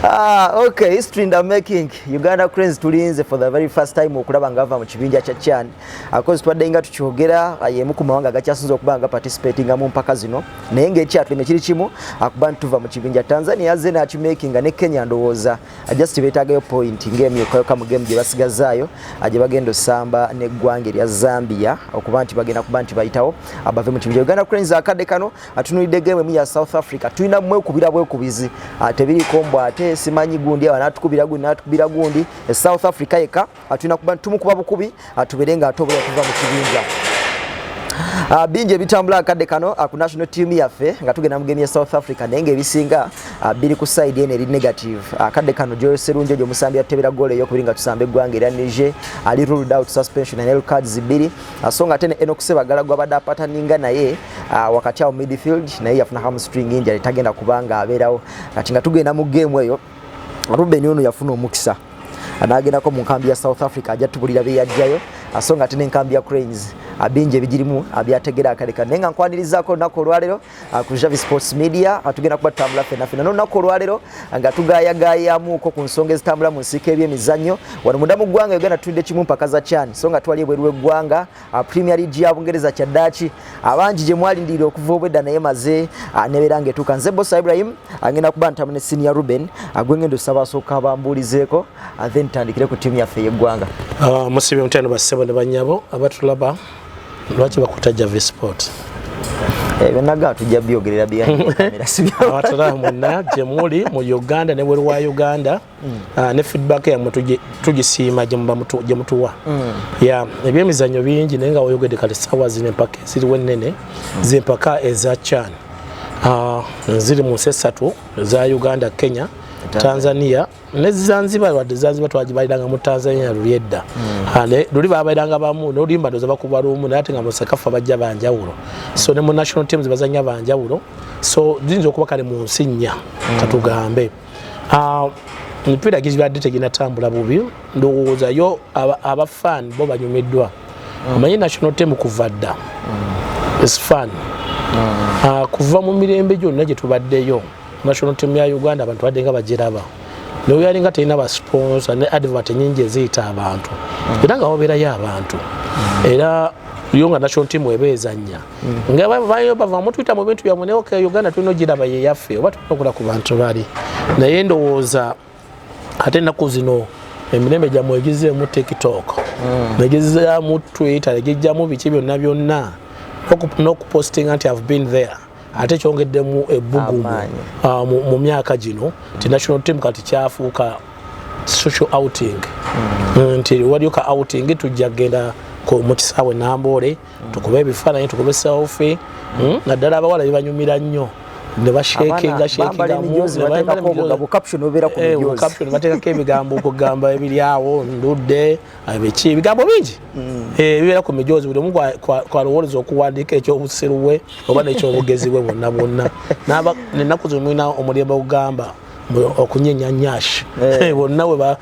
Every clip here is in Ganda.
Ah, okay, history in the making. Uganda Cranes tulinze for the very first time okulaba nga ava mu kibinja kya CHAN. Akozi twadde nga tukyogera ah, yemu ku mawanga gakyasinze okuba nga participating mu mpaka zino. Naye ng'ekyatuleme kiri kimu akuba ah, ntuva mu kibinja Tanzania azze n'akimakinga ne Kenya ndowooza just beetaagayo point ng'emyukayoka mu game gye basigazaayo gye bagenda osamba n'eggwanga erya Zambia okuba nti bagenda kuba nti bayitawo abave mu kibinja Uganda Cranes akadde kano atunulidde game emu ya south africa tulina mwekubira bwekubizi ah, tebiriko mbu ate simanyi gundi anatukubira gundi natukubira gundi e south africa yeka atulina ah, kuba tumukuba bukubi atubere ah, nga ate obula tuva mu kibinja Uh, bingi ebitambula akadde kano uh, ku national team yaffe nga tugenda mugemi ya south africa naye ngaebisinga uh, biri ku side eno eri negative akadde uh, kano joyoserunjo gyo musambi yatebera goolo eyokubiri nga tusamba eggwanga era nije ali ruled out suspension and cards bbiri uh, so nga ate ne enokusebagala gwabadde apataninga naye uh, wakati awo midfield naye yafuna hamstring injury tagenda kubanga abeerawo kati nga tugenda mu game eyo Ruben ono yafuna omukisa anagendako mu nkambi ya South Africa ajja tubulira byeyajjayo so nga ate n'enkambi ya Cranes bingi ebigirimu byategera akaleka naye nga nkwanirizako olunaku olwaleero ah, ku Javi Sports Media ah, tugenda kuba tutambula ffena ffena n'olunaku olwaleero ah, nga tugayagayamuko ku nsonga ezitambula mu nsiika ebyemizannyo wano munda mu ggwanga Uganda tulidde kimu mpaka za CHAN so nga twali ebweru w'eggwanga Ah, Premier League ya Bungereza kyaddaaki abangi ah, gye mwalindirira okuva obwedda naye maze ah, nebeera ng'etuuka nze Bosa Ibrahim agenda kuba ntamu ne Senior Ruben gwe ng'enda osaba asooka bambuulizeeko then tandikire ku ttiimu yaffe ey'eggwanga musibi omutendo bassebo ne bannyabo abatulaba lwaki bakutajja vsport eh, byonaga tujja byogerera byaera sibyaabatala mwonna gye muli mu uganda ne bweru wa uganda mm. ah, ne feedback yamwe tugisiima gye mutuwa mm. ya ebyemizannyo bingi naye nga woyogedde kale sawa zino empaka eziriwo ennene mm. zempaka eza chan ah, ziri mu nsi essatu eza uganda kenya tanzania ne zanzibar wadde zanzibar twagibaliranga mu tanzania luli edda ah, luli babaliranga bamu nolimba ndoza bakuba lumu naye ate nga musekafa bajja banjawulo so ne mu national teams bazanya banjawulo so ziyinza okuba kale mu nsi nnya katugambe ah, emipiira gibadde teginatambula bubi ndowooza yo abafan bo banyumiddwa mm. omanyi national tem kuva dda mm. is fun mm. ah, kuva mu mirembe gyonna gye tubaddeyo national tem ya uganda abantu badde nga bagiraba naye yali nga terina basponsa ne advert nyingi eziyita abantu era nga wabeerayo abantu era yo nga national team eba ezannya nga bayo bava mutwita mu bintu byamwe naye okay uganda tulina ogiraba yeyaffe oba okula ku bantu bali naye ndowooza ate ennaku zino emirembe gyammwe egizeemu tiktok mm. negizaamu twitter egijjamu biki byonna byonna nokupostinga nti have been there ate kyongeddemu ebbugumu ah, mu myaka gino nti national team kati kyafuuka social outing mm. nti waliyo ka outing tujja kugenda mu kisaawe namboole mm. tukube ebifaananyi tukube selfie mm. naddala abawala bibanyumira nnyo nebashekingashekingamubatekako ebigambo okugamba ebiryawo ndudde ebiki ebigambo bingi mm. eh, bibeera ku mijoozi buli omu kwalowoleza okuwandiika ekyobusiru bwe oba nekyobugezi bwe bwonna bwonna nenaku zino mulina omulembe ogugamba okunyenyanyash eh. eh, bonna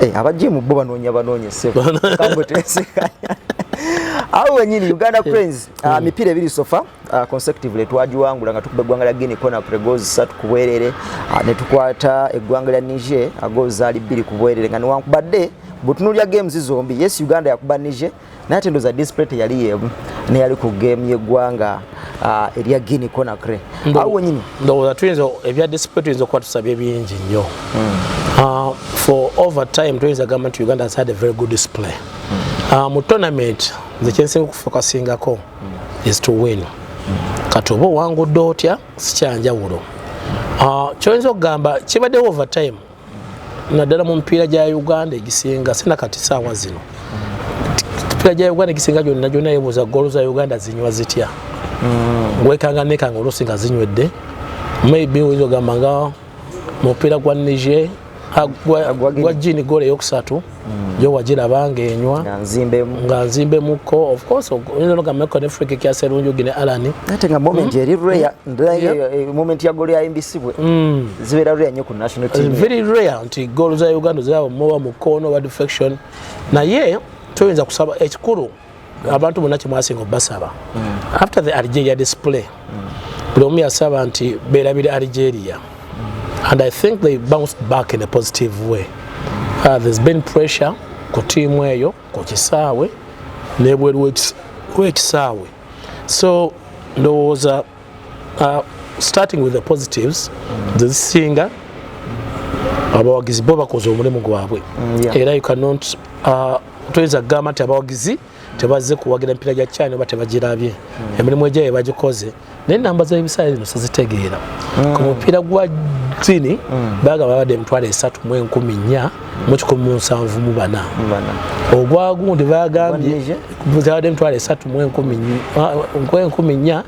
Eh, abajje mu bo banoonya banoonya ssebo kambo tesekanya awo wenyini uganda eh, cranes eh. Ah, mipiira ebiri sofa ah, consecutively twagiwangula nga tukuba eggwanga lya guinea kona pregozi satu ku bwerere ah, ne tukwata eggwanga lya niger agoozaali bbiri ku bwerere nga newankubadde butunulya games zombi yes uganda yakuba niger naye ate ndoza display teyali yemu neyali ku game yeggwanga uh, erya guini conakry awo wenyini ndowooza tuyinza ebya display tuyinza okuba tusabye bingi nnyo hmm. uh, for over time tuyinza gamba nti uganda has had a very good display hmm. uh, mu tournament nze kyensinga okufokasingako hmm. is to win kati oba owangudde otya sikyanjawulo kyoyinza okugamba kibaddewo over time naddala mu mipiira gya uganda egisinga sina kati saawa zino mipiira gya uganda egisinga gyonna gyonna yebuuza goolo za uganda zinywa zitya mm. wekanga nekanga oluusi nga zinywedde maybe oyinza ogamba nga mupiira gwa niger gwa jini goolo eyokusatu mm. yo wagiraba ng'enywa nga nzimbe muko ofcourse oyinza nogameko ne friki kya serunjugi ne alani ate nga moment mm. eri rare mm. eh, moment ya golo ya mbc bwe mm. zibeera rare nnyo ku national team very rare nti golo za uganda ziraba muba mukono oba defection naye toyinza kusaba ekikulu eh, abantu bonna kyemwasinga obasaba mm. after the algeria display mm. buli omu yasaba nti berabire algeria mm. and i think they bounced back in a positive way uh, there's been pressure ku tiimu eyo ku kisaawe nebweru wekisaawe so ndowooza Uh, starting with the positives zezisinga abawagizi bo bakoze omulimu gwabwe mm, era you cannot uh, toyinza kugamba nti abawagizi tebazze kuwagira emipira gya china oba tebagirabye mm. emirimu egyayo bagikoze naye namba z'ebisaala zino sizitegeera mm. ku mupiira gwa zini bagamba babadde emitwalo esatu mu enkumi nnya mu kikumi mu nsanvu mu bana ogwagundi bagambye zabadde emitwalo esatu mu enkumi nnya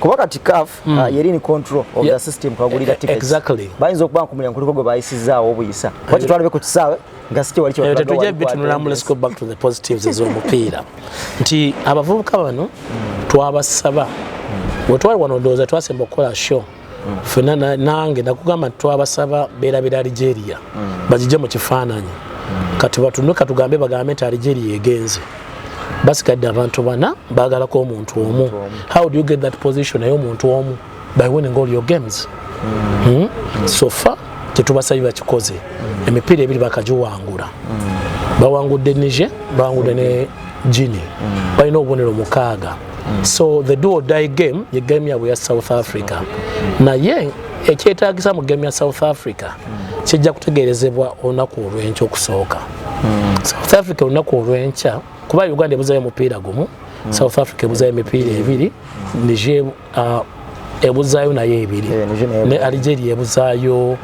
kuba kati caf mm. uh, yeri ni control of yeah. the system kwagulira e, e, tickets exactly bayinza okuba nkumulya nkuliko gwe bayisizaawo obuyisa waki twalabe ku kisaawe nga sikye wali eh, tetujja bitunulamu let's go back to the positives ez'omupiira nti abavubuka bano mm. twabasaba mm. wetwali wano ndowooza twasemba okukola show mm. fena nange nakugamba nti twabasaba berabira algeria mm. bagije mu kifaananyi mm. kati batunwe katugambe bagambe nti algeria egenze basigadde abantu bana bagalako omuntu omu how do you get that position naye omuntu omu by winning all your games mm. Mm? Mm. so far tetubasabye bakikoze mm. emipiira ebiri bakagiwangula mm. bawangudde nije bawangudde ne jini mm. balina obubonero mukaaga mm. so the do or die game ye game yabwe ya south africa mm. naye ekyetagisa mu game ya south africa mm. kijja kutegerezebwa olunaku olwenkya okusooka mm. south africa olunaku olwenkya kuba uganda ebuzayo omupiira gumu mm. south africa ebuzayo emipiira ebiri mm. nije uh, ebuzaayo nayo ebiri eh, ne algeria ebuzaayo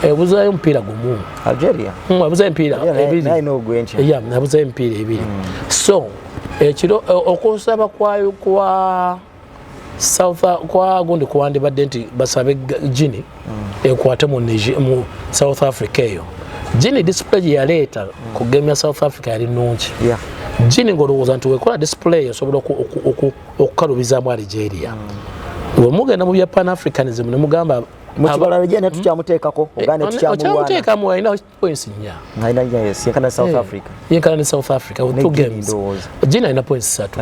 ebuzaayo omupiira gumu hmm, ebuzaayo emipiira ebiriebuzaayo emipiira ebiri hmm. so ekiro eh, okusaba kwa kwa south kwa gundi kuwandibadde nti basabe gini hmm. ekwate mu south africa eyo gini display gyeyaleeta kugemya south africa yali nungi gini ngaolowooza nti wekola display esobola okukalubizaamu aligeria mm. wemugenda mu bya pan africanism nemugamba mukibala aligeria naye tukyamuteekako hmm? ogane eh, tukyamuteekamu alina points nya yenkana south eh, africa yenkana ne south africa with two games jini alina points satu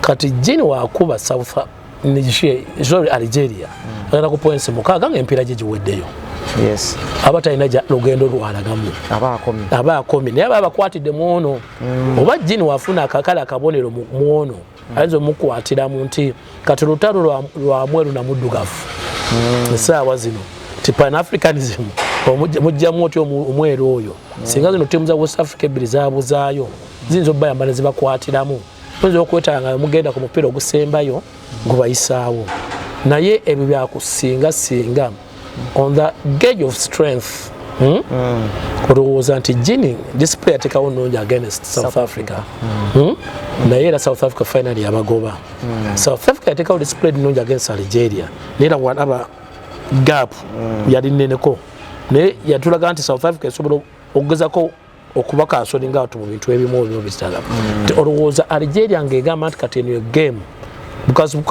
kati jini wakuba south sorry aligeria hmm. agenda ku points mukaaga nga empiira gye giweddeyo aba talina lugendo lwalagamu aba akomi naye aba abakwatidde mu ono mm. oba jini wafuna akakale akabonero mwono mm. ayinza omukwatira mu nti kati lutalo lwamweru namuddugavu mm. esaawa zino ti pan africanism mujjamu otya omweru oyo mm. singa zino timu za west africa ebbiri zabuzaayo ziyinza obayamba nezibakwatiramu oyinza okwetala nga mugenda ku mupiira ogusembayo gubayisaawo naye ebyo byakusinga singa on the gauge of strength hmm? mm. olowooza nti jini display atekawo nungi against south, south africa, africa. Mm. Hmm? Mm. naye era south africa final yabagoba mm. south africa yatekawo display nungi against algeria naera walaba gap mm. yali neneko naye yatulaga nti south africa esobola okugezako okuba kansoni nga watu mu bintu ebimu ebimu bizitala mm. nti olowooza algeria ng'egamba nti kati eno ye game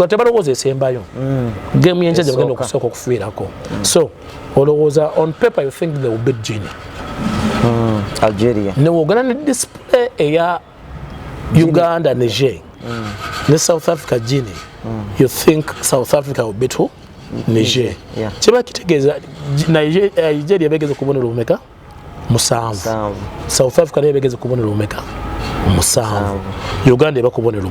tebalowooza esembayo mm. game yenkya gye bagenda okusooka okufiirako mm. so olowooza on paper you think they will beat gini algeria newogana ne display eya uganda niger ne south africa gini you think south africa will beat who niger kiba kitegeeza nigeria eh, begeza okubonera obumeka musanvu south africa naye begeze kubonero omeka musanvu uganda eba kubonero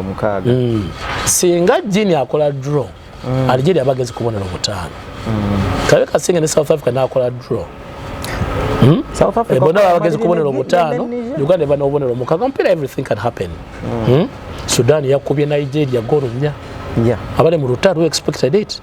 mukaaga mm. singa jini akola draw mm. algeria bageze kubonero mutaano mm. kabe kasinga ne south africa nakola draw Hmm? South Africa. Eh, bona bagezi kubonera omutano. Uganda bana obonera omukaga mpira everything can happen. Mm. Hmm? Sudan yakubye Nigeria goro nya. Yeah. Abale mu rutaro expected it.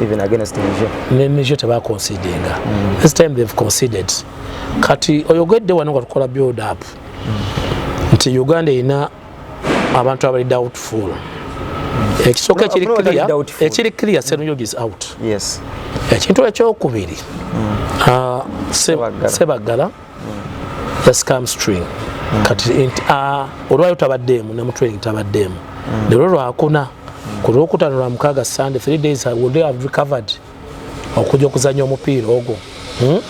even against Niger. Ne Niger teba conceding. Mm. This time they've conceded. Kati oyogedde wano nga tukola build up. Mm. Nti Uganda ina abantu abali doubtful. Mm. Ekisooka ekiri no, clear, ekiri clear mm. Senuyogi is out. Yes. Ekintu ekyokubiri. Mm. Uh, Sebaggala. Sebaggala. just come string mm. kati enti a ah, olwayo tabaddeemu ne mutraining tabaddeemu mm. lero lwakuna ku lwokutano lwa mukaaga sunday three days i will have recovered okuja okuzanya omupiira ogwo hmm?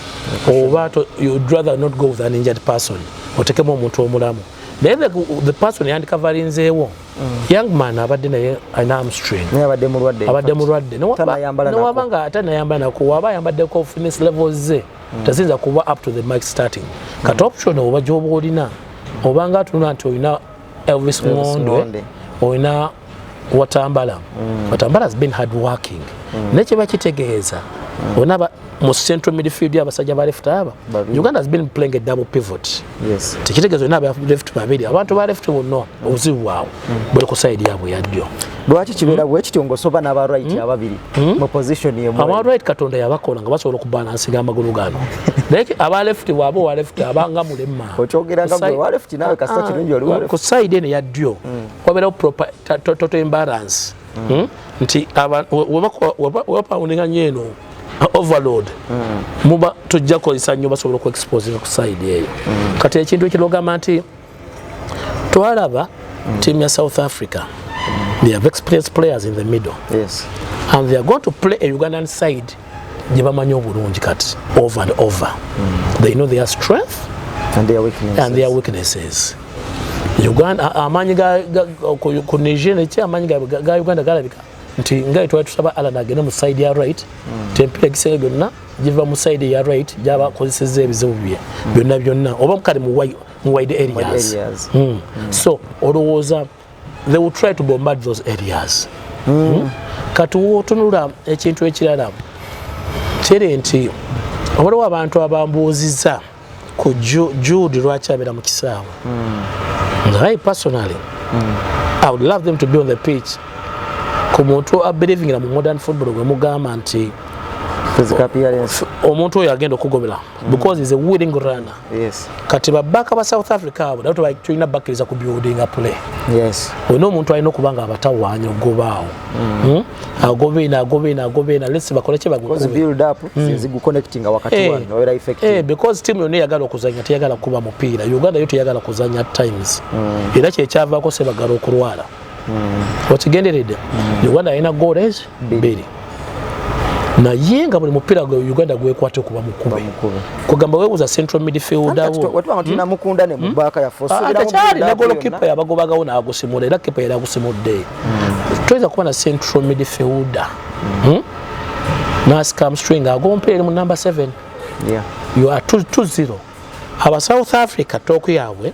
oba you'd rather not go with an injured person otekemu omuntu omulamu naye the, the person yandikavalinzeewo mm. young man abadde naye alina amstring abadde mulwadde newaba nga ate nayambala nakuwaba ayambaddeko fitness levels ze mm. teziyinza kuba up to the mic starting mm. kati option oba gyoba olina obanga atunula nti olina elvis ngondwe olina watambala mm. watambala has been hard working mm. naye kyeba kitegeeza mm. olina mu central midfield abasajja ba left aba uganda has been playing a double pivot Yes. Tekitegezo na ba left babiri. Abantu ba left will know. Uzi wao. Mm. Bwe ku side yabo ya dio. Lwaki kibera bwe kityo ngo soba na ba right mm. ababiri. Mm. Mu position ye mwe. Aba right katonda yabakola nga basobola ku balance ga magulu gano. Like aba left wabo wa left abanga mulemma. Ochogera nga bwe wa left nawe kasita ah, kirungi oli wa left. Ku side ne ya dio. Mm. Wabera proper total imbalance. hmm? nti webapawundinga nyo eno overload hmm. muba tujja kukozesa nnyo basobola okuexposinga ku side eyo hmm. kati ekintu ekilogamba nti twalaba tiamu ya south africa they have experienced players in the middle yes. and they are going to play a ugandan side gye bamanyi obulungi kati over and over mm. they know their strength and their weaknesses, and their weaknesses. Uganda amaanyi ku Niger nekye amaanyi ga Uganda galabika nti nga twali tusaba Allan agende mu side ya right mm. tempera egisenge gyonna giva mu side ya right gyaba akozesezza ebizibu bye mm. byonna byonna oba kale mu wide areas, wide areas. Mm. Mm. so olowooza they will try to bombard those areas mm. Hmm? kati wotunula ekintu ekirala kiri nti waliwo abantu abambuuziza ku jude lwaki abeera mu kisaawe mm. naye personally mm. i would love them to be on the pitch ku muntu abelivingira mu modern football gwe mugamba nti omuntu oyo agenda okugobera because is a willing runner Yes. Kati babaka ba South Africa abo nabo tulina bakkiriza ku building a play. Yes. Olina omuntu alina okuba nga abatawaanya ogobaawo. Mm. Hmm? Agobe na agobe na agobe na let's bakole kye bagukube. Because build up mm. since go connecting wakati hey. Eh. wano era effective. Eh hey, because team yone yagala okuzanya teyagala kuba mupiira. Uganda yote yagala kuzanya times. Mm. Era kye kyava ko se bagala okulwala. okigenderedde mm. uganda alina goals bbiri naye nga buli mupiira gwe uganda gwekwata okuba mukuba kugamba webuza central midfielderwetulinamukundanemubaaka hmm? hmm? hmm? yafotekyali ah, nagolo kipa yabagobagawo nagusimula era kipa yali agusimudde toyinza kuba na central midfielder nascamstring agompeere mu number 7 yo a 20 aba south africa toku yaabwe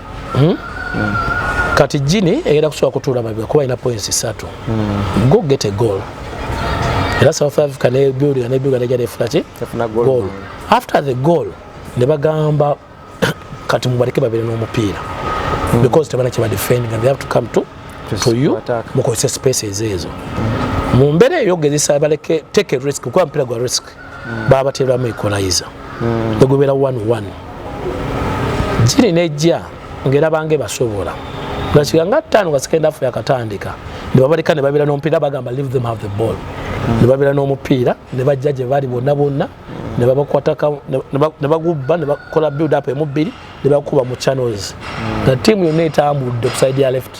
hmm? mm. kati jini egenda kusobola kutuula mabega kuba alina points ssatu mm. go get a goal era south africa ne building ne building ejja nefuna ki goal after the goal ne bagamba kati mubaleke babere n'omupiira mm. because tebana kiba defending and they have to come to to you mukozese spaces ezo mm. mu mbeera eyo gezesa baleke take a risk kuba mpira gwa risk mm. babateeramu equalizer mm. egubera 11 giri nejja ngera bange basobola ngakiga nga ttaano nga sekenda afu yakatandika ne babaleka ne babeera n'omupiira bagamba leave them have the ball mm. ne babeera n'omupiira ne bajja gye bali bonna bonna ne babakwataka ne bagubba ne bakola build up emu bbiri ne bakuba mu channels nga ttiimu yonna etambudde ku side ya left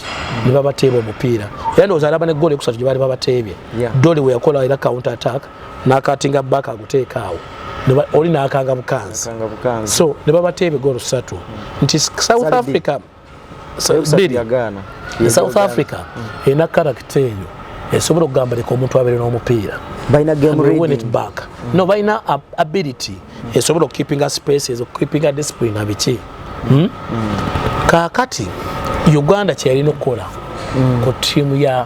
ne babateeba omupiira era ndowooza alaba ne goolo ekusatu gye baali babateebye doli we yakola era counter attack nakatinga back aguteeka awo oli nakanga bukanzi so ne babatta ebigolo satu mm. nti south africa biri south africa mm. erina karakita eyo esobola okugamba leka omuntu abeere n'omupiira back mm. no balina ability esobola okukeepinga spaces okukeepinga discipline abiki hmm? kakati uganda kyeyalina okukola ku tiimu ya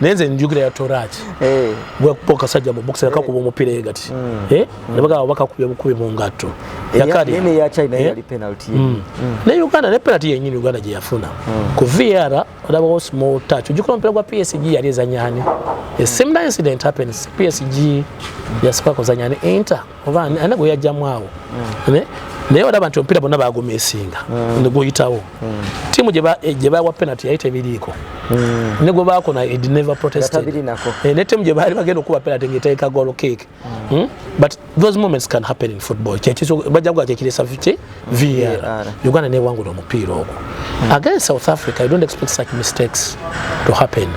naye nze njukira ya toraki eh. bwekuba kasajja mu bukisi nakakuba omupira ye gati hmm. eh? hmm. nebagaba bakakubye bukubi mu ngatto yakadinaye hmm. uganda ne penalty yenyini uganda gye yafuna ku vr olabawo small touch ojukira omupira gwa psg yali ezanyani a similar incident happens psg yasooka kuzanyani inter oba ana gwe yajjamu awo hmm. naye olaba nti omupiira bonna bagumisinga hmm. neguyitawo hmm. tiimu gye bawa penalty yali tebiriiko ne gwe baakona ed never protested eh, ne tiimu gye baali bagenda okuba penalty ngaeteeka golo cake hmm? but those moments can happen in football bajja kuga kyekiresa ki var uganda newangula omupiira ogwo against south africa you don't expect such mistakes to happen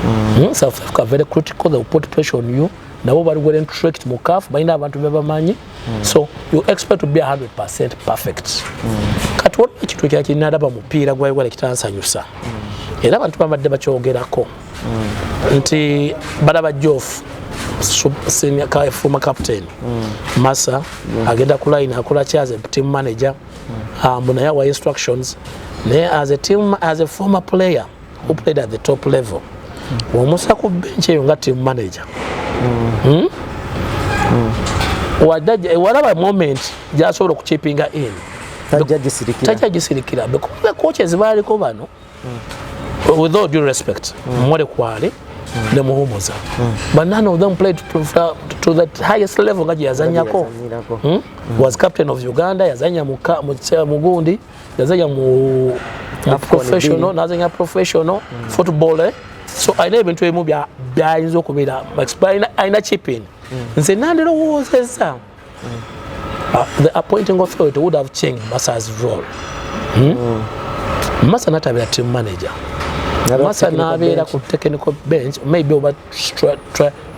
Mm. Mm, South Africa very critical. They will put pressure on you. nabo bali well entrenched mu CAF balina abantu bebamanyi mm. so you expect to be 100% perfect mm. kati waliwo ekintu ekya kirina alaba mupiira gwa Uganda kitansanyusa mm. era abantu babadde bakyogerako mm. nti balaba Geoff senior ka former captain mm. Massa mm. agenda ku line akola ki as a team manager mm. um, naye awa instructions naye as a team as a former player who played at the top level mm. omusa ku bench eyo nga team manager mm. Hmm? Mm. Eh, walaba moment gyasobola okuchipinga in tajja gisirikira bekuba kocha ezibaaliko bano mm. with all due respect mm. mwole kwale mm. ne muhumuza mm. but none of them played to, to, to that highest level nga gyeyazanyako hmm? mm. was captain of uganda yazanya mugundi yazanya mu professional nazanya professional mm. football eh? so alina ebintu ebimu byayinza okubeera alina chipin mm. nze nandirowoozezza mm. uh, the appointing authority would have changed masa's role hmm? mm. masa natabira team manager masa nabeera ku technical bench maybe oba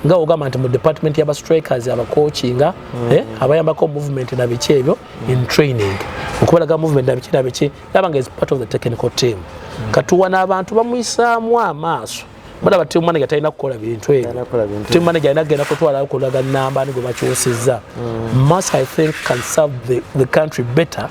nga ogamba nti mu department yaba strikers abacoachinga mm. eh, abayambako movement na biki ebyo in training okubalaga movement nabiki nabiki nabanga is part of the technical team mm. katuwa n'abantu bamuyisaamu amaaso mulaba team manager talina kukola bintu ebyo team manager alina kugenda kutwala okulaga namba ni gwe bakyusizza mm. must i think can serve the, the country better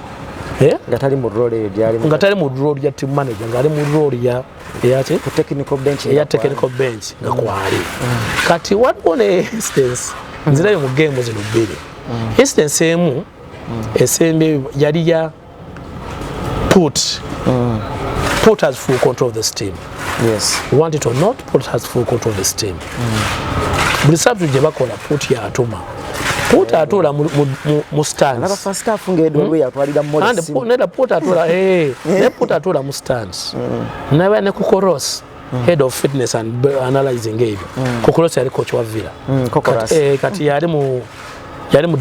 eh? nga tali mu role eyo gyali nga tali mu role ya team manager nga ali mu role ya eyaki ku technical bench ya technical bench nga kwali mm. kati waliwo ne instance nzirayo mu game zino bbiri mm. instance emu mm. esembe yali ya put mm. put has full control of the steam yes want it or not put has full control of the steam mm. buli sabtu gye bakola put ya atuma put atuula mu standsneda put atuula mu stands naba ne ku koros Mm. head of fitness and analyzing ebyo mm. kokolos yali coach wa villa mm, kati, eh, kati yali mu yali mu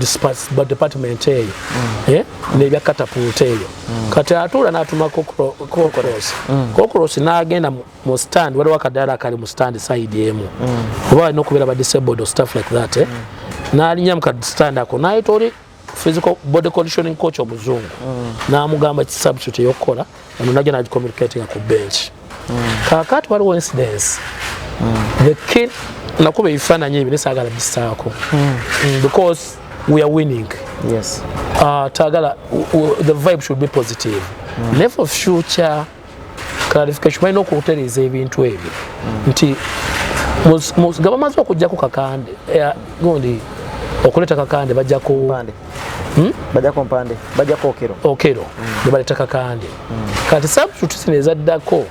department eyo mm. eh, nebya katapult eyo mm. kati atuula natuma kokolos mm. kokolos nagenda mu stand waliwo akadaala akali mu stand side emu mm. oba alina okubeera ba disabled or stuff like that eh? mm. nalinya mu kastand ako nayita oli physical body conditioning coach omuzungu mm. n'amugamba ki substitute ey'okukola ono najja nagicommunicatinga ku bench mm. kakati waliwo incidence mm. the kid nakuba ebifaananyi ebyo nesaagala bisaako mm. mm, because we are winning yes. uh, tagala the vibe should be positive mm. ne for future clarification balina okutereeza ebintu ebyo nti nga bamaze okujjako kakande eh, gundi okuleeta kakande bajjako hmm? bajako mpande bajako okero okero hmm. nebaleta kakande hmm. kati substitute zino ezaddako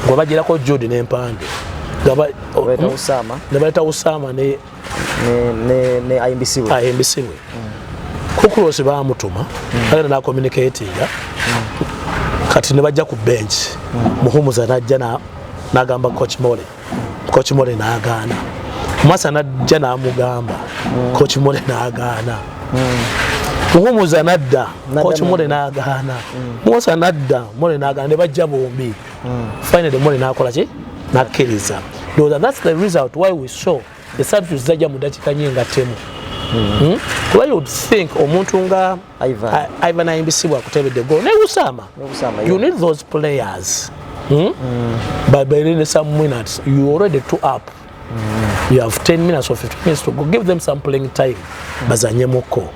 nga bajirako jodi nempande nebaleta usama ne ne ayimbisibwe ayimbisibwe kukulosi bamutuma kale na communicatinga kati ne bajja ku bench muhumuza najja nagamba coach mole coach mole nagaana mwasa najja namugamba coach mole nagaana muhumuza nadda coach mole nagaana mwasa nadda mole nagaana ne bajja bombi mm. finally mole nakola ki nakkiriza ndowooza thats the result why we saw the substitute zajja mu dakika nye nga temu mm. hmm? kuba you think omuntu nga ivan ayimbisibwa kutebedde gol naye usama you need those players mm? mm. but by some minutes you already two up you have 10 minutes or 15 minutes to go give them some playing time mm. bazanye muko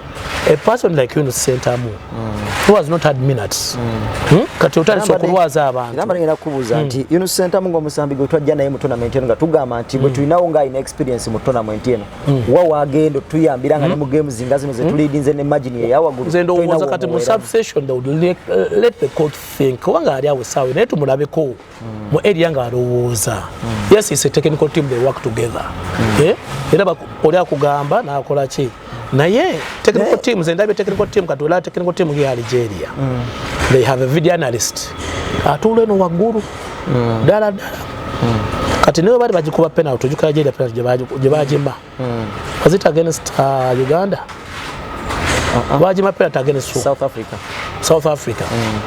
a person like you in the center mu mm. who has not had minutes mm. hmm? kati otali so kulwaza abantu namba ngena kubuza nti mm. you know center mu ngomusambi gwe twajja naye mu tournament eno nga tugamba nti bwe mm. tulina wo ngai experience mu tournament eno mm. wa wagendo tuyambira nga mm. ne mu games zinga zino ze mm. tulidi nze ne imagine ya yawa gulu zendo woza kati mu subsession they would let, uh, let the court think wanga ali awo sawe naye tumulabe ko mm. mu area nga alowooza mm. yes it's a technical team they work together mm. eh? era oli akugamba nakola ki naye technical team ze ndabye technical team kati olaba technical team ya algeria mm. they have a video analyst atuula eno waggulu mm. ddala ddala mm. kati naye bali bagikuba penalty ojukira algeria penalty gye bagima mm. was it against uh, uganda uh-huh. lwaki ma penalty against south africa south africa mm.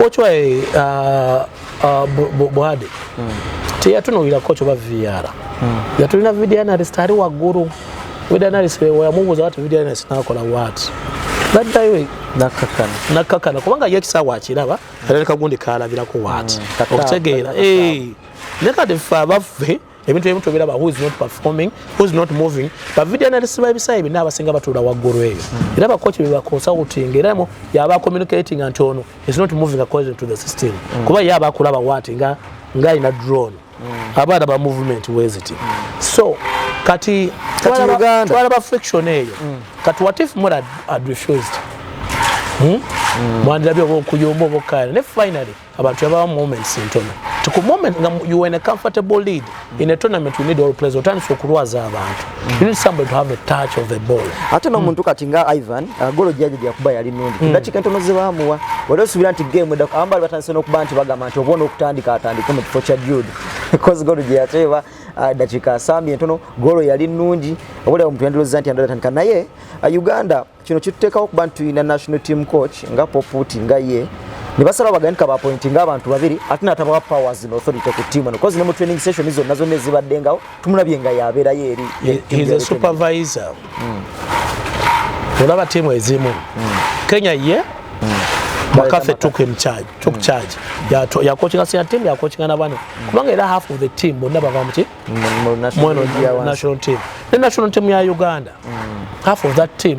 coach wa eh, uh, uh, buhade mm. teyatunulira coach oba vr mm. yatulina video analyst ali waggulu video analyst weyamubuuza wati video analyst nakola wat naddayo nakakana nakakana kubanga ye ekisaawa akiraba era nekagundi kalabirako waati mm, okutegeera eh, nekadeffe abaffe ebintu ebimu tobiraba who is not performing who is not moving ba video analysis ba ebisayi bina abasinga batula waggulu eyo era ba coach beba consulting era mo yaba communicating anti ono is not moving according to the system mm. kuba yaba akulaba wati nga nga ina drone mm. abaana ba movement weziti mm. so kati kati Uganda twala ba friction eyo mm. kati what if more had refused hmm? mm. mwandira byo okuyomba obokana ne finally abantu yabawa moments ntono ti ku moment nga you were in a comfortable lead mm. in a tournament we need all players otandise okulwaza abantu mm. you need somebody to have a touch of the ball ate nomuntu mm. kati nga ivan uh, golo jaje jakuba yali nundi mm. ndakika ntono zebamuwa wali osubira nti game edako abambali batandise n'okuba nti bagamba nti obona okutandika atandike mu kifo kya jude because golo gye yateeba uh, dakika asambye ntono golo yali nungi obolewo omuntu yandiroza nti andalatandika naye uh, uganda kino kituteekawo okuba nti tulina national team coach nga poputi nga ye ne basalawo bagandika bapointi nga abantu babiri ate natabawa powers no authority ku tiimu eno kozi ne mu training session zonna zonna ezibaddengawo tumulabye nga yabeerayo eri e- supervisor hmm. olaba tiimu ezimu hmm. kenya ye makafe hmm. took him charge took charge yakokinga sina tiimu yakokinga nabano kubanga era half of the team bonna bava muki national team ne national team ya uganda mm. half of that team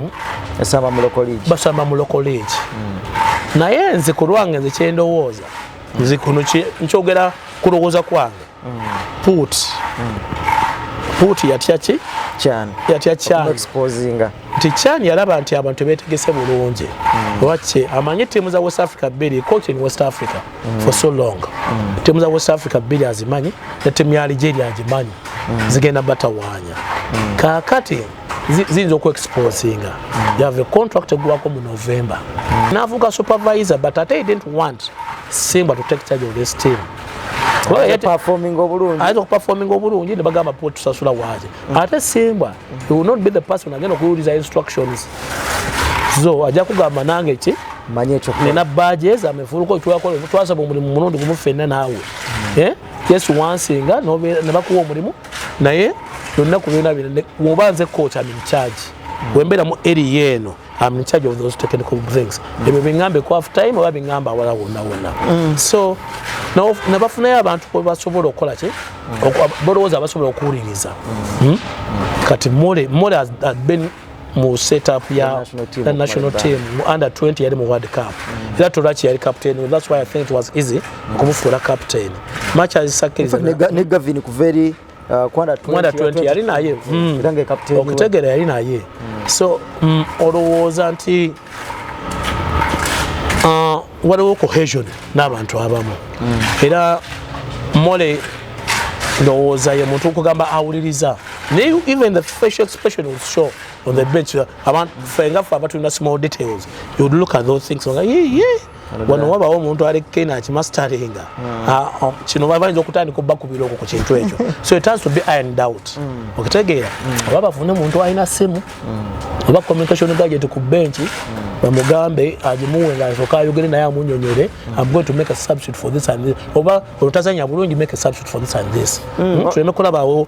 basamba mu local league basamba mu local league mm. naye nze ku lwange nze kyendowooza mm. nze kuno nkyogera kulowooza kwange mm. put mm. put yatya ki chan yatya chan exposinga nti chan yalaba nti abantu betegese bulungi mm. lwaki amanye tiimu za west africa bbiri coach in west africa mm. for so long mm. timu za west africa bbiri azimanyi ne timu ya algeria agimanyi mm. zigenda batawaanya mm. kaakati ziyinza okuexposinga mm. you have a contract egwako mu november mm. navuga supervisor but ate i didn't want simba to take charge of this team ayinza okuperforminga obulungi nebagamba tusasula waaki mm. ate simbwa he will not be the person agenda okuwuliza instructions zo ajja kugamba nange ki manya ekyo nina baje za mefuluko ekyakola twasaba omulimu mulundi gumu fenna naawe mm. eh? yesu wansinga ne bakuwa omulimu naye yonna ku byona bino woba nze koca min charge mm. wembeera mu eri yeeno I'm in charge of those technical things. Mm. Ebyo bingambe kwa half time oba bingamba wala wona wona. Mm. So no nabafuna ya abantu ko basobola okola ki? Mm. Bolowoza basobola okuwuliriza. Mm. Mm. Kati mole mole has, has been mu setup ya the national team, the national team under 20 yali mu World Cup. Mm. Ila Torachi yali captain. Well, that's why I think it was easy mm. kumufuula captain. Match as second. Ne Gavin Kuveri Kwanda 20 yali naye hmm. okutegera yali naye hmm. so hmm, olowooza nti uh, waliwo cohesion n'abantu abamu era mole ndowooza ye muntu okugamba awuliriza naye even the facial expression will show on the bench abantu ffe nga ffe abatulina small details you would look at those things nga ye ye wano wabawo omuntu alekena akimastaringa hmm. ah, oh, kino bayinza okutandika obakubira okwo ku kintu ekyo so it has to be iron doubt hmm. okitegeera hmm. oba bafune omuntu alina simu oba communication gadget ku benki bamugambe agimuwe nga asoka ayogere naye amunyonyere am going to make a substitute for this and this oba olutazanya bulungi make a substitute for this and this tuleme kulabawo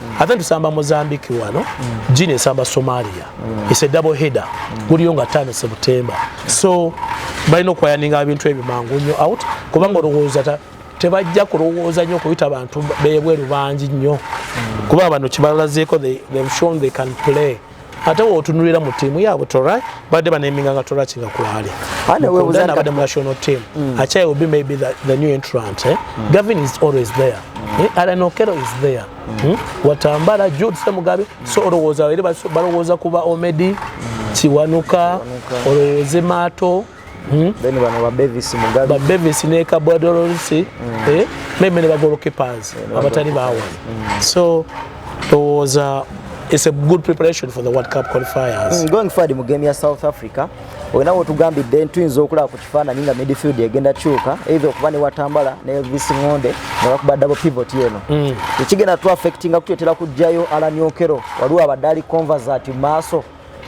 ate tusamba mozambique wano gini esamba somalia is a double header guliyo nga tano sebutemba so balina okwayaninga abintu ebyo mangu nyo out kubanga olowooza tebajja kulowooza nyo okuyita bantu bebweru bangi nyo kuba bano kibalazeeko they've shown they can play ate wotunulira mu tiimu yaabwe tora badde baneminga nga tora kinga kwali abadde mu national team mm. achai will be maybe the, the new entrant eh? mm. gavin is always there mm. eh? alan okero is there mm. hmm? watambala jude semugabe mm. so olowooza balowooza kuba omedi mm. kiwanuka olowooze maato Hmm? Then bano ba Bevis Mugabe. Ba Bevis ne Kabwa Dolorisi. Hmm. Eh? Meme ne ba goalkeepers. Yeah, abatali ba awali. Hmm. So, it was a, it's a good preparation for the World Cup qualifiers. Mm, going forward mu game ya South Africa, olina wotugambidde ntuyinza okulaba ku kifaananyi nga midfield egenda kyuka either okuba ne watambala ne elvis ngonde nga bakuba double pivot eno mm. ekigenda tu affectinga kutyetera kujjayo alaniokero waliwo abadde ali conversat maaso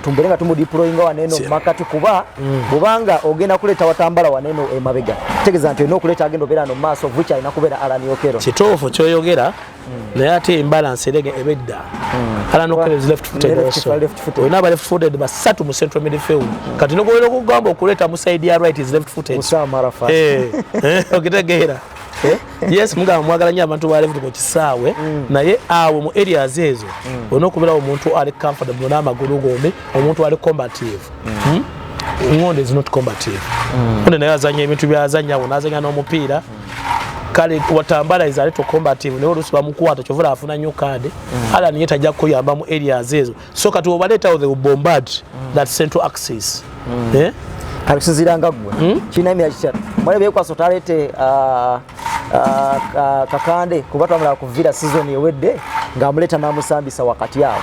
tumbere nga tumudiployinga waneno mumakati kuba mm. bubanga ogenda kuleeta watambala waneno emabega tegeza nti olina okuleeta agenda obeera no mumaaso vich alina kubeera alan okero kituufu kyoyogera mm. naye ate embalance erege ebedda mm. alan okero is left footed also olina aba left footed basatu mu central midfield kati nokubeera okugamba okuleeta mu side ya right is left footed eh, eh, okitegeera eh? yes mugamba mwagala nyo abantu balevuli ku kisaawe mm. naye awo mu areas ezo mm. olina okubeerawo omuntu ali comfortable n'amagulu gombi omuntu ali combative mm. hmm? ngondo is not combative onde naye azanya ebintu byazanya awo nazanya n'omupiira kale watambala is a little combative naye oluusi bamukwata kyovula afuna nyo kaade ala niye tajja kuyamba mu areas ezo so kati obaleetawo the bombard mm. that central axis mm. eh? alusinziranga gwe hmm? kirina emira kitya mwale byekwasa otaleete uh, uh, kakande kuba twamala kuvira sizoni ewedde ng'amuleeta n'amusambisa wakati awo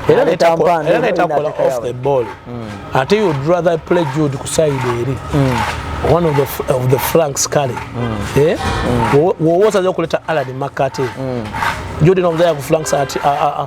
era netakola off the ball hmm. ate you would rather play jude ku side eri hmm. one of the, of the flanks kale eh? wowosaza okuleta alad makate jude nomuzaya ku flanks ati ah, ah, ah.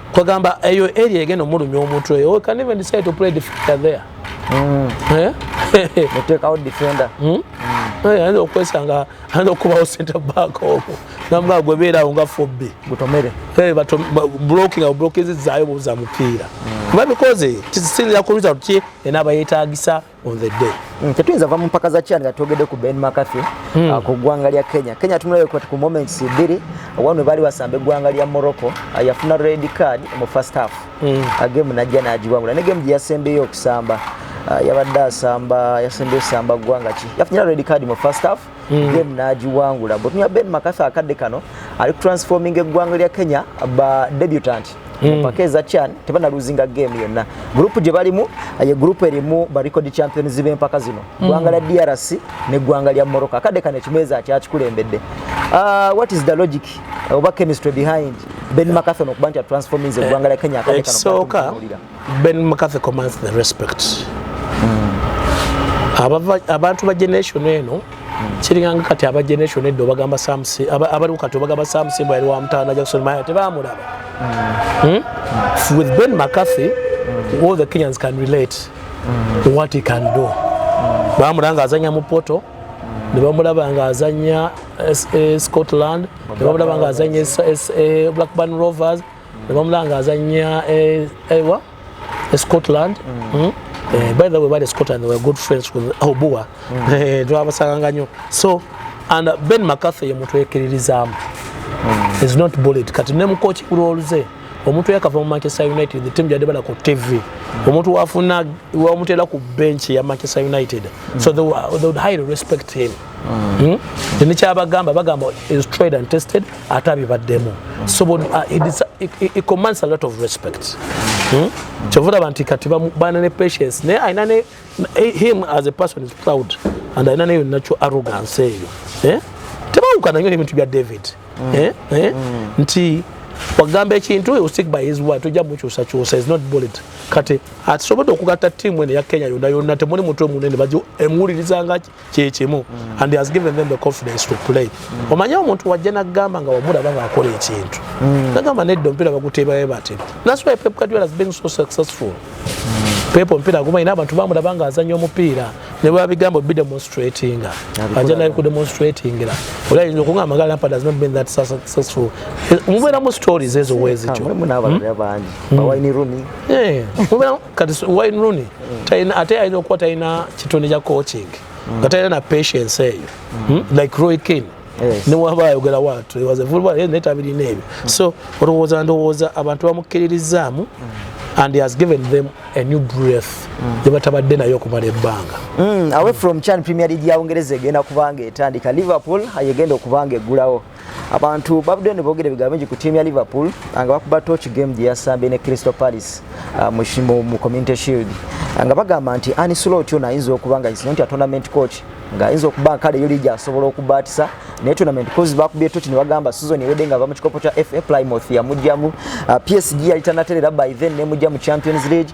kwagamba eyo area egenda omulumya omutwe oyo can even decide to play defender there mm. eh? mutekawo defender hmm? mm. eh, ayinza okwesanga ayinza okubawo center back owo namugaa gwebeerawo nga fobbe gutomere eh, blocking awo blokizizaayo buza mupiira mm. kuba because kisinzira ku result ki enaaba yetagisa on the day mm, tetuyinza va mu mpaka za chan nga twogedde ku ben mccarthy mm. uh, ku ggwanga lya kenya kenya tumulabe kwati ku moments bbiri wano we baali wasamba eggwanga lya morocco uh, yafuna red card mu first half mm. uh, game najja nagiwangula ne game gye yasembeyo okusamba uh, yabadde asamba yasembeyo samba ggwanga ki yafunira red card mu first half mm. game nagiwangula mbutunya ben makasa akadde kano ali transforming eggwanga lya kenya ba debutant mm. mpaka eza chan tebana luzinga game yonna group gye balimu ye group erimu ba record champions b'empaka zino mm. ggwanga mm. lya drc ne ggwanga lya morocco akadde kano ekimeeza akyakikulembedde uh, what is the logic oba chemistry behind ben yeah. makathon okuba nti atransforming eggwanga lya kenya akadde kano ekisooka Ben McCarthy commands the respect. Mm. Abava, abantu ba generation eno mm. kiringanga kati aba generation eddo bagamba samsi abaliwo kati bagamba samsi bwali wa mutanda Jackson Maya tebamulaba. Mm. Hmm? Mm. With Ben McCarthy mm. all the Kenyans can relate mm. what he can do. Mm. Bamulanga azanya mu poto nebamulaba nga azanya eh, eh, scotland nebamulaba nga azanya eh, blackburn rovers nebamulanga azanya eh, ewa eh, scotland mm. Mm. Eh, by the way bali scotland were good friends with obua mm. eh, twabasanganga nyo so and uh, ben mccarthy ye muntu ekiririzamu mm. is not bullied kati ne mukochi kulwoluze omuntu yakava mu manchester united the team jade bala ku tv mm. omuntu wafuna wamutera ku bench ya manchester united mm. so they, they would highly respect him Hmm? nekyabagamba bagamba is tried and tested ate abibaddemu so uh, it commands a lot of respect hmm? kyova olaba nti kati baana ne patience naye alina ne eh, him as a person is proud and alina neyo nakyo arrogance eyo eh? tebawukana nyo nebintu bya david hmm. eh? nti wagamba ekintu you stick by his word tojja mukyusa kyusa is not bullied kati atisobodde okugatta tiimu eno ya kenya yonna yonna temuli mutwe munene bajo emuwuliriza ngaki kyekimu mm. and has given them the confidence to play mm. omanye omuntu wajja nagamba nga wamulaba ngaakola ekintu mm. nagamba nedda omupiira baguteebaye batyo thats why pep guardiola has been so successful mm. pep omupiira aguma ina abantu bamulaba nga azanya omupiira ne bwabigamba obi demonstratinga ajja naye ku demonstratingira ola yinza okungamba nga lampard has not been that successful mubeera mu stories ezo wezityo hmm? hmm. kati wayne rooney ate alina okuba talina kitonde kya coaching mm. nga talina na patience eyo mm. hmm? like roy kin newaba ayogera watu ewazevubanetabirina ebyo mm. so olowooza ndowooza abantu bamukkiririzaamu and he has given them a new breath gyebatabadde naye okumala ebbanga away from chan premier league ya bungereza egenda kubanga etandika liverpool ayegenda okubanga eggulawo abantu babudde ne boogera ebigambo bingi ku tiimu ya liverpool ah, nga bakuba toch game gye yasambye ne crystal palace ah, mu community shield ah, nga bagamba nti ani sula otyo naayinza okuba nga isino nti atournament coach ng'ayinza okuba kale yo liigi asobola okubaatisa naye tournament coz bakubye toki ne bagamba sizoni ewedde nga ava mu kikopo kya fa plymouth yamugjamu psg yali tanaterera by then nemugja mu champions league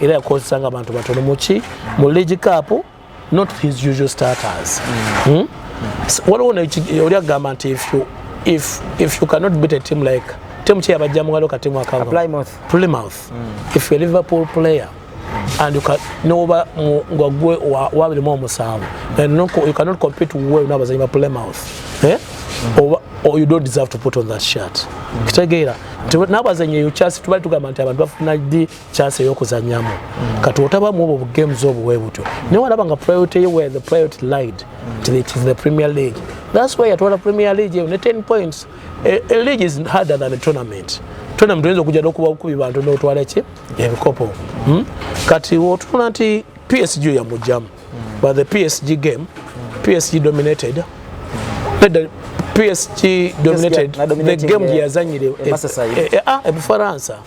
era yakozesa nga bantu batono muki mu league cup not his usual starters mm. hmm? waliwo oli agamba nti if you, if, if you cannot beat a team like team kye yabajja mungalo ka team akava plymouth plymouth mm. if you liverpool player and you can noba ngwagwe wabiri mu omusanvu and no, you cannot compete well n'abazanyi ba plymouth eh? mm. oba or you don't deserve to put on that shirt mm. kitegeera n'abazanyi eyo kyasi tubali tugamba nti abantu bafuna di chance eyokuzanyamu mm. kati otaba mu obwo games obwo webutyo naye walaba nga priority ye where the priority lied to the, to the premier league that's why yatwala premier league eyo ne 10 points a, a league is harder than a tournament tournament oyinza okujja nokuba kubi bantu notwala ki ebikopo hmm? kati otunula nti psg yamugjamu mm. but the psg game mm. psg dominated mm. nedda psg dominated the game gyeyazanyire ebufaransa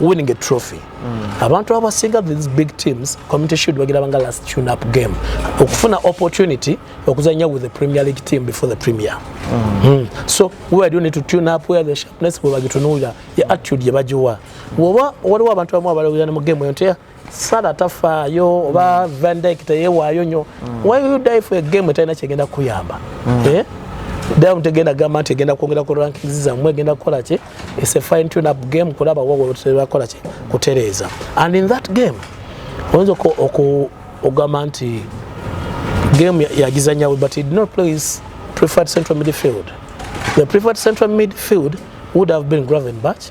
winning a trophy mm. abantu abasinga these big teams community shield bagirabanga last tune up game okufuna opportunity okuzanya with the premier league team before the premier mm. Mm. so where do you need to tune up where the sharpness bwebagitunuulira ye attitude yebagiwa woba waliwo abantu abamu abalawirana mu game eyo nti sala tafaayo oba mm. vandik teyewaayo nyo mm. why you die for a game etalina kyegenda kuyamba mm. eh? damu tegenda gamba nti egenda kwongera ku rankings zammwe egenda kukola ki is a fine tune up game kulaba wabakola ki kutereeza and in that game oyinza okugamba nti game yagizanyawe but did not place preferred central midfield the preferred central midfield would have been graven batch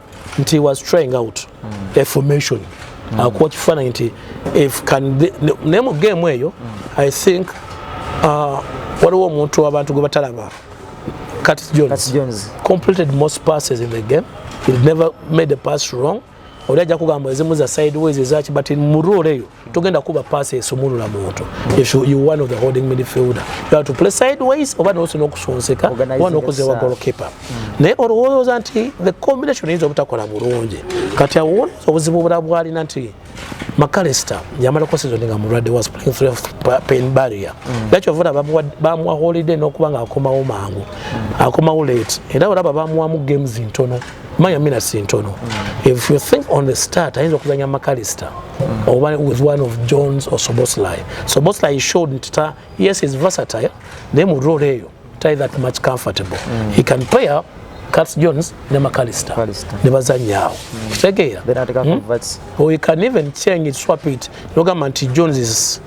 nti was trying out mm. a formation mm. akuwa kifaananyi nti if can naye mu game eyo mm. i think uh, waliwo omuntu abantu gwe batalaba Curtis Jones, Curtis Jones completed most passes in the game he never made a pass wrong oli ajja kugamba ezimu za sideways ezaki but mu rule eyo togenda kuba pass esumulula muntu if you, you one of the holding midfielder you have to play sideways oba nosi nokusonseka oba nokuzewa goalkeeper mm. naye olowooza nti the combination eyinza obutakola bulungi kati awo obuzibu bula bwalina nti macalister yamalako sizoni nga mulwadde was playing through pain barrier mm. nakyo vula bamuwa holiday nokuba nga akomawo mangu mm. akomawo late era olaba bamuwamu games ntono manya mina sintono mm. if you think on the start ayinza okuzanya macalister mm. oba with one of jones or soboslai soboslai showed nti ta yes is versatile naye mu role eyo tai that much comfortable mm. he can play up Cats Jones ne McAllister ne bazanya awo mm. kitegeera hmm? or you can even change it swap it logamba nti Jones is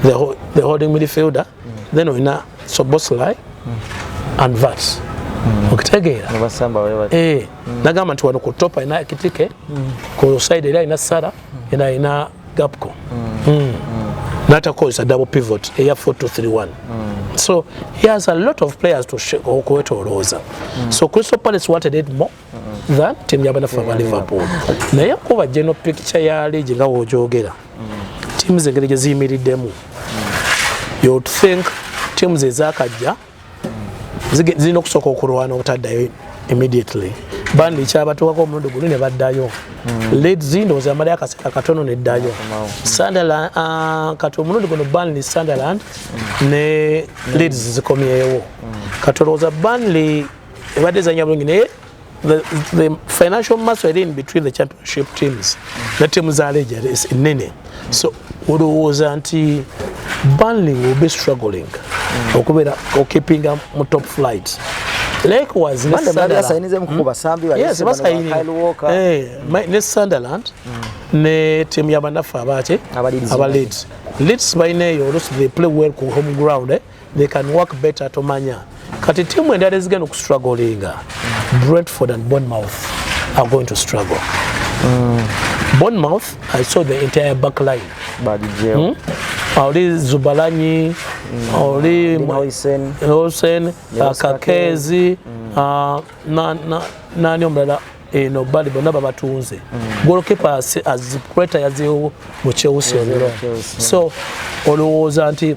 the, the holding midfielder then olina soboslai and vats mm. okitegeera eh, mm. nagamba nti wano ku top alina ekitike mm. ku side eri alina sara ena alina gapco natakozesa double pivot eya 4231 so he has a lot of players to okwetolooza so crystal palace wanted it more than timu yabanaffe aba liverpool naye kuba geno picture ya leegi nga wogyogera timu zengeri gye ziyimiriddemu you think timu ze zakajja zirina okusooka okulwana obutaddayo immediately bandi kyabatwako omulundi guli ne baddayo hmm. led zindowoza yamalayo akaseera katono neddayo sunderland ah, kati omulundi guno banly sunderland hmm. ne leds zikomyewo hmm. kati olowooza banly ebadde ezanya bulungi naye the, the financial muscle eri in between the championship teams ne tiimu za leja ennene so olowooza nti banling will be struggling mm. okubeera okipinga mu top flight likewise ne mm. sunderland mm. ne tiimu yabanaffe abaki aba leeds leeds balina eyo olusi they play well ku home ground eh? they can work better tomanya kati tiimu endala ezigenda okustrugglinga brentford and bonmouth are going to struggle mm. bonmouth i saw the entire back line hmm? oli zubalanyi mm. oli hosen kakezi mm. ah, nani omulala eno bali bonna babatunze mm. golkepa azikureta yazeewo mu chelsea so olowooza nti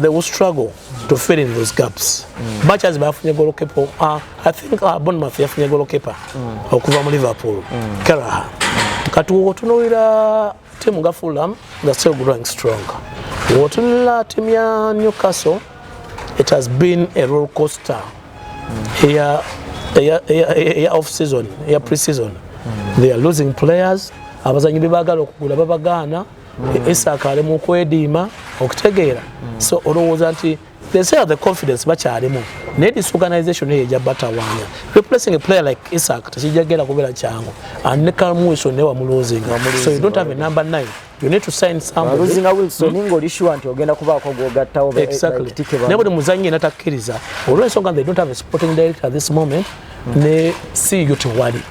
they will struggle to fill in those gaps mm. much as bafunye golokepa uh, ah, i think uh, ah, bonmath yafunye golokepa mm. okuva mu liverpool mm. karaha mm. kati wotunulira timu nga fulham nga still growing strong wotunulira timu ya newcastle it has been a roll coaster mm. eya eya eya eya off season eya pre season mm. they are losing players abazanyi bebagala okugula babagaana mm. isaaka ali mu kwediima okutegeera mm. so olowooza nti they say the confidence bakyalimu naye disorganization eyo ejja batawaanya replacing a player like isaak tekijja genda kubeera kyangu and ne calmuison naye wamuloozinga so you don't have a number nine you need to sign someoneluzinga wilson hmm? ngoli sure nti ogenda kubaako gwogattawo exactly naye buli muzanyi yena takkiriza olwensonga they don't have a sporting director at this moment hmm. ne si yutewali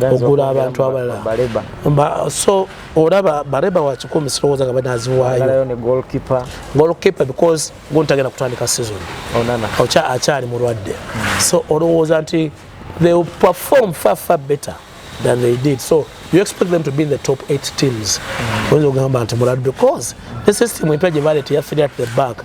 okugula abantu abalala so olaba bareba wakikumi sirowooza nga banaziwaayo golkipe because guntagenda kutandika season akyali mulwadde hmm. so olowooza nti they will perform far far better than they did so you expect them to be in the top 8 teams hmm. oyinza okugamba nti mulwadde because the system empya gye baleeta yafiri at the back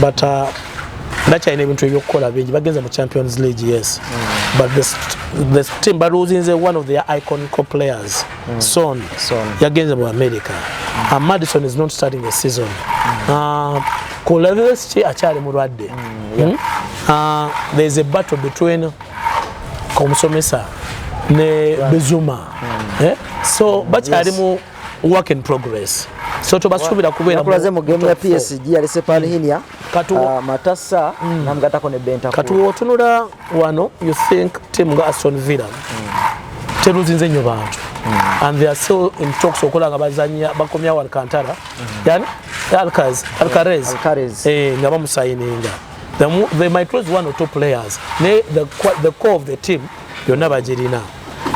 but uh, bakyalina ebintu ebyokukola bingi bagenze mu champions league yes mm. but this, this team baluzinze one of their iconical players mm. son, son. yagenze mu america mm. and madison is not starting a season mm. uh, ku levels ki akyali mulwadde mm, yeah. hmm? uh, there is a battle between omusomesa ne bezuma mm. eh? so bakyali yes. mu work in progress so tobasuubira kubeera nakulaze mu game ya PSG yalese Palhinha mm. katu uh, ah, matasa mm. namgatako ne benta katu otunula wano you think team ga Aston Villa mm. teruzinze nyo bantu mm. and they are still in talks okola nga bazanya bakomya wa Alcantara mm. yani Alcaz Alcarez yeah, Alcarez eh nga bamusayininga they, they might lose one or two players ne the the core of the team yonna bagirina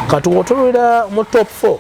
kati otunula mu top 4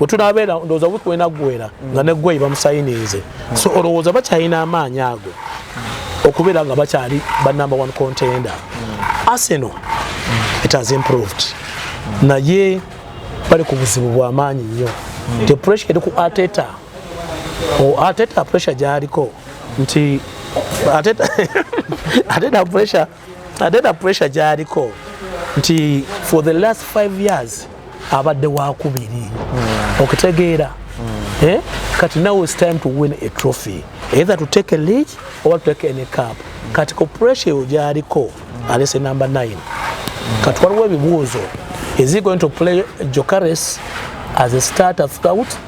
wetunabeera ndowooza wiiki wenaggwera nga neggweyi bamusayiniize so olowooza bakyalina amaanyi ago okubeera nga bakyali ba number one contender arsenal it has improved naye bali ku buzibu bwamaanyi nnyo te pressure eri ku ateta ateta pressure gyaliko nti ateta pressure ate na pressure gyaliko nti for the last five years abadde wakubiri hmm. okitegeera hmm. eh? kati now is time to win a trophy either to take a league or to take any cup hmm. kati ko pressure eyo gyaliko alese number 9 kati waliwo ebibuuzo is he going to play jocares as a starter throughout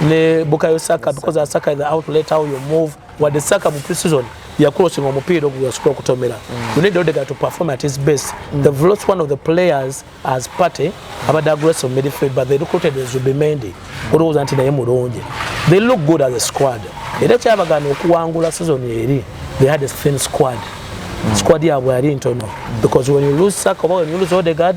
ne Bukayo Saka because Saka is the outlet how you move what the Saka mu pre-season ya crossing omupiira ogwo yasobola okutomera mm. we need Odegaard to perform at his best mm. they've lost one of the players as party abadde aggressive midfield but they recruited Zubimendi olowooza nti naye mulungi they look good as a squad era kyabagana okuwangula season eri they had a thin squad mm. squad yabwe yali ntono because when you lose Saka oba when you lose Odegaard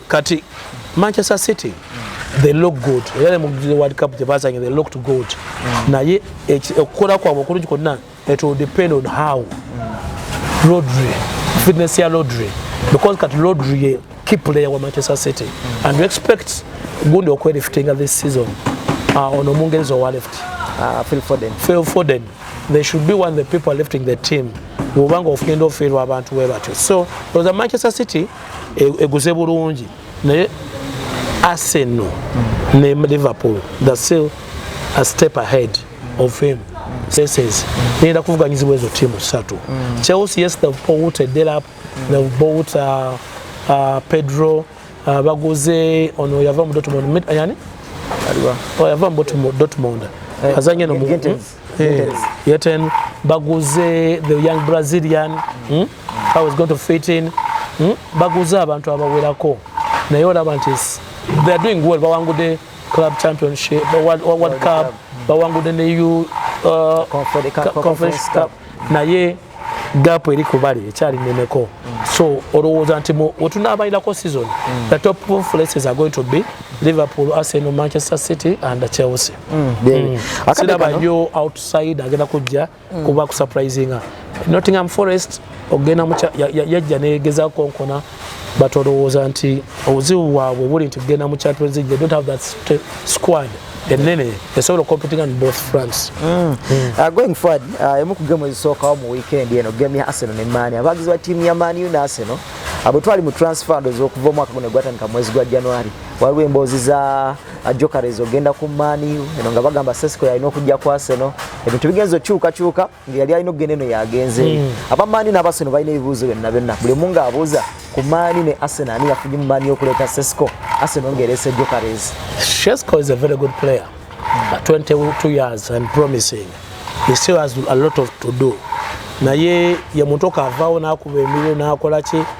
kati manchester city they look good era mu world cup gye bazanye they looked good mm. naye okukola kwabwe okulungi kwonna it will depend on how rodri fitness ya rodri because kati rodri ye key player wa manchester city mm. and you expect gundi okweliftinga this season uh, ono omungereza owa left uh, phil foden phil foden they should be one the people lifting the team bwobanga ofugenda ofiirwa abantu we batyo so oza manchester city e, eguze bulungi naye Arsenal ne Liverpool the still a step ahead of him says nenda kuvuganyizibwa ezo timu satu mm. Chelsea yes they've bought a Delap mm. they've bought uh, uh, Pedro uh, baguze ono yava mu Dortmund yani yava mu Dortmund eh, azanye no mu Hey, yeten baguze the young Brazilian hmm? how is going to fit in hmm? baguze abantu abawerako naye olaba nti they are doing well bawangude club championship world, world, world cup bawangude ne u uh, conference cup naye gap eri kubali ekyali neneko so olowooza nti wetunaabalinako season mm. the top places are going to be liverpool arsenal manchester city and chelsea mm. mm. siraba nyo outside agenda kujja mm. kuba kusurprisinga nottingham forest ogenda yajja negeza konkona but olowooza nti obuzibu bwabwe buli nti kugenda mu champions league they don't have that squad enene esobola okompitinga ne both france mm. Mm. Uh, going forward uh, emu ku gemu ezisookawo mu weekend eno gemu ya arsenal ne mani abagizi ba tiimu ya mani ne arsenal abo twali mu transfer ndozi okuva omwaka guno gwatandika mwezi gwa january waliwo emboozi za uh, jokares ogenda ku mani eno nga bagamba sesco yalina okujja ku arsenal ebintu bigenza okyukakyuka ngeyali alina okugenda eno yagenze hmm. abamaani n'abaseno balina ebibuuzo byonna byonna buli omu ng'abuuza ku maani ne aseno ani yafunye mu maani y'okuleeta sesco aseno ng'ereese jokares sesco is a very good player hmm. at 22 years and promising he still has a lot of to do naye ye muntu okaavaawo n'akuba emirimu n'akola ki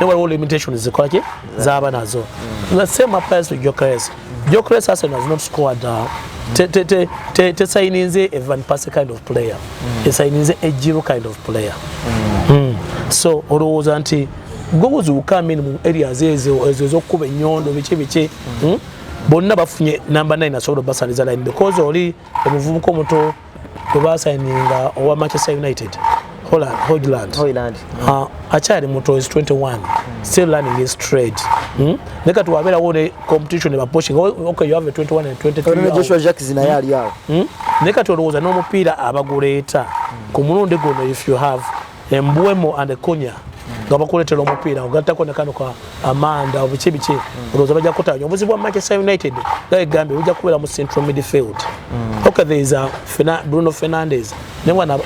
ne waliwo limitation zikolaki zaba nazo mm. the same applies to jokres jokres arsenal has not scored uh, tesayininze a van pass kind of player mm. esayininze a jiro kind of player mm. Mm. so olowooza nti gobuzuuka amin mu areas ezo ezo ezokukuba enyondo biki biki mm. hmm? bonna bafunye number 9 asobola obasaliza line because oli omuvubuka omuto webasayininga owa manchester united holland hogland hoyland uh, akyali muto is 21 still learning his trade hmm? ne kati wabeerawo ne competition ebapushing okay you have a 21 and 23 joshua jacks naye ali awo hmm? ne kati olowooza n'omupiira abaguleeta ku mulundi guno if you have embwemo and konya nga bakuletera omupiira ogattako ne kano ka amanda obiki biki mm. olowooza bajja kutanya obuzibu bwa manchester united nga egambye bujja kubeera mu central midfield mm. ok there is a Fena, bruno fernandez naye wana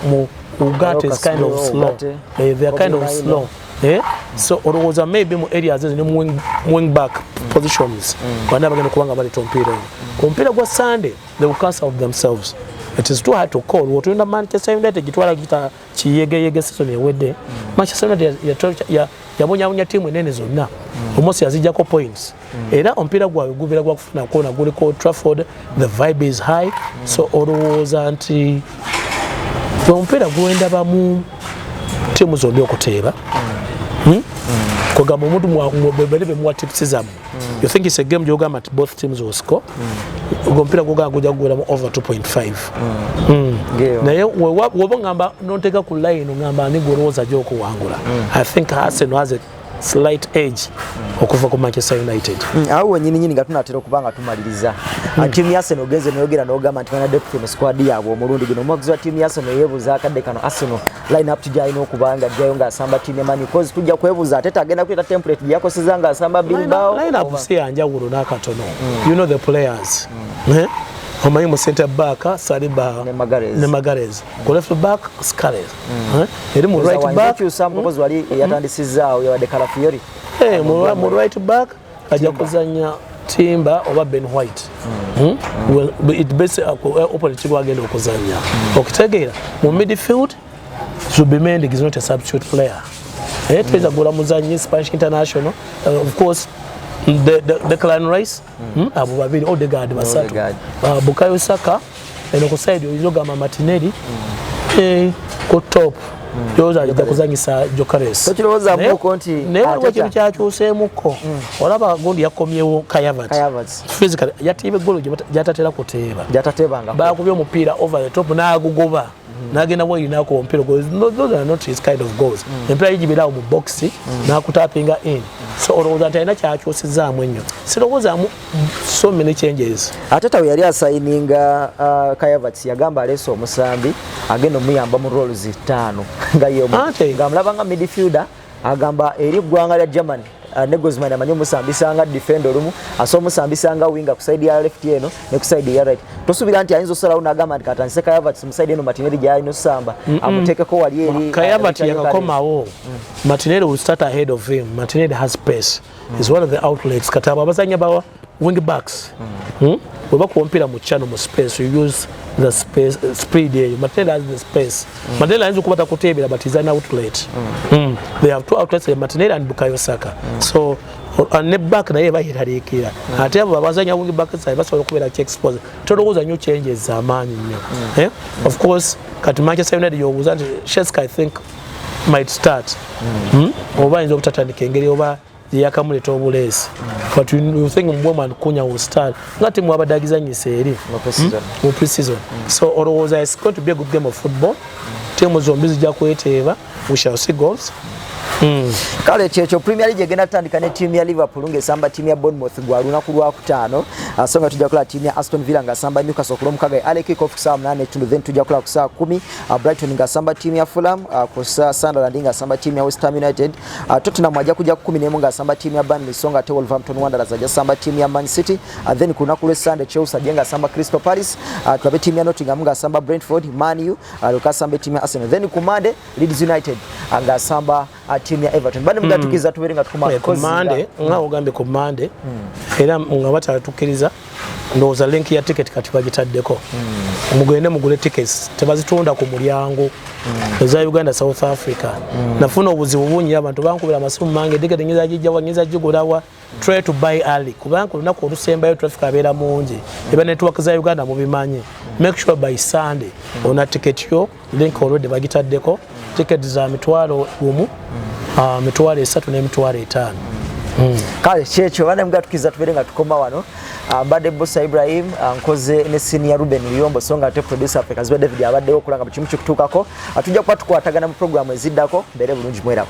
mu ugate is kind of slow eh, they are kind of slow eh? so olowooza maybe mu areas ezo ne mu wing back mm. positions bana bagenda kuba nga baleeta omupiira oyo ku mupiira gwa sunday they will cancel out themselves it is too hard to call what in Manchester United gitwala gita kiyege yege season ewede mm. Manchester United ya ya yabonya bonya team enene zonna mm. almost yazija ko points mm. era ompira gwa gubira gwa kufuna ko na gule ko Trafford the vibe is high mm. so always anti ompira gwenda ba mu team zonna okuteba mm. hmm? mm. kugamba omuntu mwa mwa bebe mwa tips zamu mm. you think it's a game gyogamba nti both teams will score mm. ogwo mupiira gwogamba gujja kugweramu over 2.5 mm. mm. naye woba ngamba nonteeka ku line ngamba ani gwolowooza gyokuwangula mm. i think arsenal has a slight edge okuva ku Manchester United. Mm, awo wenyini nyini nga tunatera okuba nga tumaliriza. Mm. Timu ya Arsenal ogenze noyogera n'ogamba nti bana depth mu squad yaabwe omulundi guno. Omwagizi wa timu ya Arsenal yeebuuza akadde kano Arsenal line up tujja alina okuba nga ajjayo ng'asamba tinemani bcause tujja kwebuuza ate tagenda kuleeta template gye yakoseza ng'asamba bilbao line up si yanjawulo n'akatono mm. you know the players mm. eh? omanyi mu center back saliba ne magarez ku left back scares mm. eh? eri mu right back mm. yatandisizaawo yabadde kalafiori eh, mu right back ajja kuzanya timba oba ben white hmm. Hmm? well, it base uh, uh, opponent gwagenda okuzanya hmm. okitegeera mu midfield zubimendig is not a substitute player eh, tuweza gula muzanyi spanish international uh, of course the, the, the clan rice abo babiri odegard basatu bukayo saka eno ku side oyinza ogamba matineri mm. eh, ku top mm. yoza ajja kuzanyisa jokaresnayewaliwo ekintu kyakyuseemukko mm. olaba gundi yakomyewo kayavat yatiiba eggolo gyatatera kuteeba bakubye omupiira over the top n'agugoba Mm. nagenda mu erinaku omupiira those are not his kind of goals mm. empiira gibeerawo mu boxi mm. nakutapinga in so olowooza nti alina kyakyusizaamu ennyo sirowoozaamu so many changes atata we yali asayininga uh, kayavats yagamba aleese omusambi agenda omuyamba mu rolls ttaano nga yomngamulabanga midfielder agamba eri eggwanga lya germany uh, ne gozman amanyi omusambisa nga defend olumu asa omusambisa nga winga ku side ya left eno ne ku side ya right tosuubira nti ayinza osalawo nagamba nti katandise kayavat mu side eno matineri gyalina osamba amutekeko wali eri kayavat uh, yakakomawo mm. matineri will start ahead of him matineri has pace mm. is one of the outlets kati abo abazanya bawa wing backs mm. hmm? weba kuompira mu channel mu space you use the space uh, speed eyo matela has the space mm. matela ayinza okubata kutebera but is an outlet mm. Mm. they have two outlets eh, matela and bukayo saka mm. so uh, ne back naye bayiraliikira mm. ate abo babazanya wing back side basobola okubeera ki expose tolowooza nyo changes zamaanyi nnyo mm. eh? mm. of course kati manchester united yobuuza nti sheska i think might start mm. mm? oba ayinza obutatandika engeri oba yakamuleta obuleesi but you think mbwemu and kunya will start nga timu abadde agizanyisa eri mu hmm? preseason hmm. so olowooza is going to be a good game of football timu zombi zijja kweteeba we shall see goals hmm. kale kyekyo premier league egenda tutandika ne tiimu ya liverpool ng'esamba tiimu ya bournemouth gwa lunaku lwakutaano ah, so nga tujja kulaba tiimu ya aston villa ng'asamba newcastle ku lwomukaga e alekikof kusaawa munaana ekitundu then tujja kulaba ku saawa kumi ah, brighton ng'asamba tiimu ya fulham ah, ku sunderland ng'asamba tiimu ya westham united Uh, Tottenham ajja kujja kukumi nemu nga asamba tiimu ya Burnley so nga ate Wolverhampton Wanderers ajja samba tiimu ya Man City uh, then ku lunaku lwe Sunday Chelsea ajja nga asamba Crystal Palace uh, tulabe tiimu ya Nottingham nga asamba Brentford Man U uh, leka asamba tiimu ya Arsenal then ku Monday Leeds United uh, nga asamba uh, tiimu ya Everton bane mudatukiza mm. tubere nga tukuma ku Monday nga ogambye ku Monday mm. era nga batatukiriza mm. ndowooza link ya ticket kati bagitaddeko mm. mugende mugule tickets tebazitunda ku mulyango mm. eza uganda south africa mm. nafuna obuzibu bungi abantu bankubira amasimu mange ticket ngiza gijjawa ngiza gigulawa try to buy early kubanga olunaku olusembayo traffic abeera mungi eba network za uganda mubimanyi make sure by sunday ona ticket yo link already bagitaddeko ticket za mitwalo gumu mm. ah, mitwalo esatu n'emitwalo etaano mm. kale kyekyo bana mugatukiza tubeere nga tukoma wano ah, mbadde busa ibrahim ah, nkoze ne senior ruben luyombo so nga ate producer ffe kaziba david abaddewo okulanga buli kimu kikutuukako tujja kuba tukwatagana mu programu eziddako mbeere bulungi mweraba